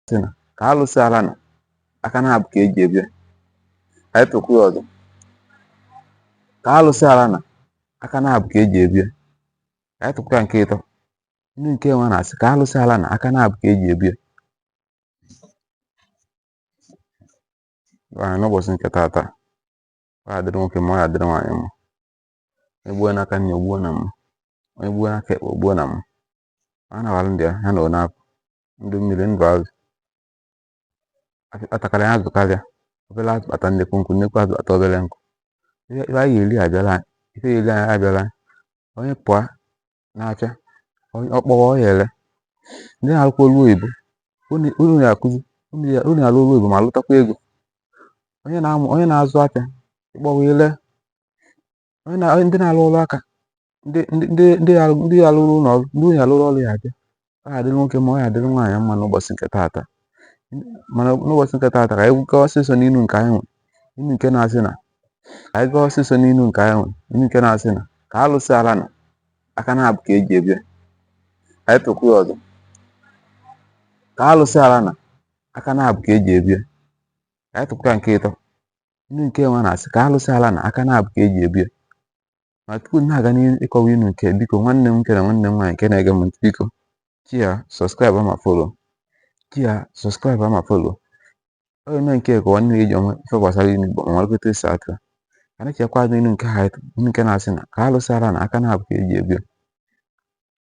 sị na ka alụsị ala na aka naabọ ka eji ebu ya ka anyị tụkwuo ya ọzọ ka alụsị ala na aka naabọ ka eji ebu ya ka anyị tụkwuo ya nke ịtọ inu nke nwa na-asị ka alụsị ala na aka naabọ ka eji ebu ya Gwa anyị n'ụbọchị nke taata ọ ya-adịrị nwoke mma ọ ya-adịrị nwaanyị mma onye gbuo n'aka nni gbuo na mma onye gbuo n'aka ekpe gbuo na mma a na-awalụ ndị ha na onye apụ ndụ mmiri ndụ azụ atakara ya azụ karịa obere azụ kpata nnekwu nkụ nnekwu azụ kpata obere nkụ ife anyị ya-eri abịara ife ya-eri anyị abịala onye pụọ n'afịa ọ kpọwa ọ ya-ele ndị na-arụkwa ọlụ oyibo unu na-akụzi unu ya-alụ ọlụ oyibo ma lụtakwa ego onye na-azụ afịa ị kpọwa i lee onye na ndị na-alụ ọrụ aka ndị ndị ndị ndị ya ndị ya lụrụ ụlọ ọrụ ndị ị ya-alụrụ ọrụ ya-abịa ọ ga-adịrị nwoke mma ọ ga-adịrị nwaanyị mma n'ụbọchị nke taata mana n'ụbọchị nke taata ka anyị gaa ọsịsọ n'inu nke anyị nwere inu nke na-asị na ka anyị gaa ọsịsọ n'inu nke anyị nwere inu nke na-asị na ka alụsị ala na aka naabọ ka eji ebu ya ka anyị tụkwuo ọzọ ka alụsị ala na aka naabọ ka eji ebu ya ka anyị tụkwuo nke ịtọ inu nke nwa na-asị ka alụsị ala na aka naabọ ka eji ebu ya ma tupu m na-aga n'ihu ịkọwa inu nke a biko nwanne m nwoke na nwanne m nwaanyị nke na-ege m ntị biko share subscribe ma follow share subscribe ma follow ọ ga-eme nke ka nwanne gị ji ama ife gbasara inu igbo ma marakwa etu esi atụ ya na-echekwa azụ inu nke a inu nke na-asị na ka alụsị ala na aka naabọ ka eji ebu ya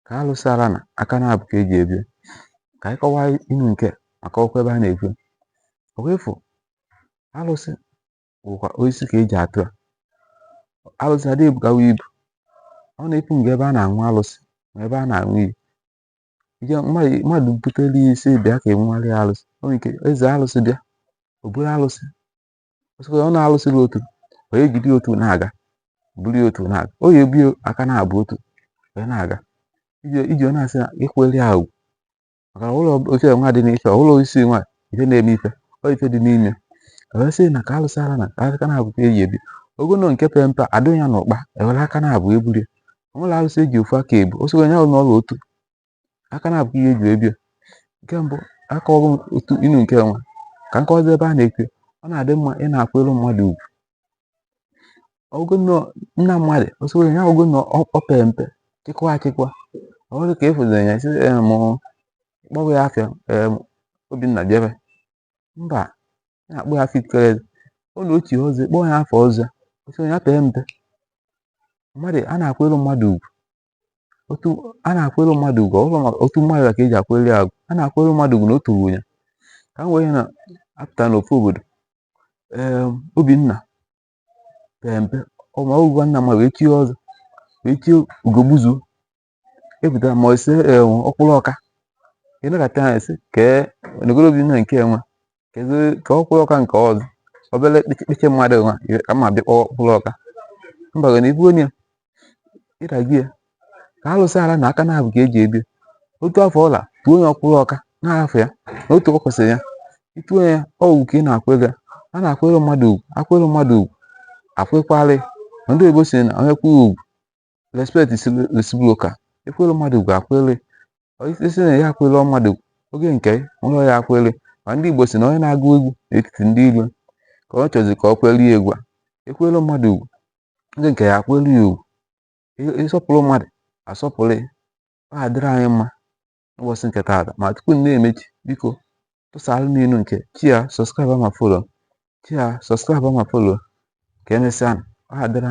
ka alụsị ala na aka naabọ ka eji ebu ya ka anyị kọwaa inu nke a maka ọkwa ebe a na-ekwu ọkwa ị fụ alụsị bụkwa osisi ka eji atụ ya alụsị adịghị ebugawa ibu ọ na-epu nga ebe a na-aṅụ alụsị ma ebe a na-aṅụ iyi ije mmadụ butere ya isi bịa ka a ṅụọ alụsị o nwere ike eze alụsị bịa o buru alụsị ọsịkwa ọ na-alụsị gị otu ọ ya-ejide otu na-aga buru ya otu na-aga ọ ya-ebu aka naabọ otu wee na-aga iji ọ na-asị na ịkwanyelụ ya ugwu maka na ọ bụrọ oche nwa dị n'ife ọ bụrọ osisi nwa ife na-eme ife ọ ife dị n'ime wee sị na ka alụsị ala na aka naabọ ka eji ebu ya ọ bụgodu nke pere mpe adụ ya n'ụkpa ewere aka naabọ ebulie o nwerọ alụsị eji ofu aka ebu o sịkwa onye ahụ n'ọlụ otu aka naabọ ka eji ebu ya nke mbụ aka ọrụ otu inu nke nwa na-akụzi ebe a na-ekwe ọ na-adị mma ị na-akwanyere mmadụ ugwu ọ bụgodu na mmadụ o soro ya ọ bụgodu na o pere mpe chịkwa achịkwa ọ bụrụ ka ị fụziri ya sị m kpọwa ya afa obinna bịara mba na-akpọ ya afa itikere ọ na otu ọzọ kpọọ ya afa ọzọ o soro ya pere mpe mmadụ a na-akwanyere mmadụ ugwu otu a na-akwere mmadụ ugwu ọ bụrọ maka otu mmadụ ka eji akwere ya ugwu a na-akwere mmadụ ugwu na o toro ya ka m wee na-apụta n'ofu obodo ee obinna pere mpe ọma ogwa nna mmadụ wee chie ọzọ wee chie ugogbuzuo epụtara ma ose ọkwụrụ ọka ịnakọta ha ese kee nogoro obinna nke enwe kedu ka ọkwụrụ ọka nke ọzọ obere kpịchị mmadụ nwa ka mma bịa kpọọ ọkwụrụ ọka mba gị na ibu onye ịdagie ka alụsị ala na aka na-abụ ka eji ebi otu afọ ọla tuo onye ọkwụrụ ọka na-ahafụ ya na otu o kwesịrị ya i tuo ya ọgwụ ka ị na-akwụ ego a na-akwụrụ mmadụ ugwu akwụrụ mmadụ ugwu akwụkwalị ndị oyibo sị na onye kwụrụ ugwu respect is reciprocal ekwere mmadụ ugwu akwere isi na ya akwere mmadụ oge nke ụlọ ya akwere ma ndị Igbo sị na onye na-agụ egwu n'etiti ndị ilo ka ọ chọzi ka ọ kwere ya egwu a ekwere mmadụ ugwu oge nke ya akwere ya ugwu ịsọpụrụ mmadụ asọpụrụ ya ọ adịrị anyị mma n'ụbọchị nke taata ma tupu m na-emechi biko tụsara m ilu nke share subscribe ma follow share subscribe ma follow ka emesịa ọ adịrị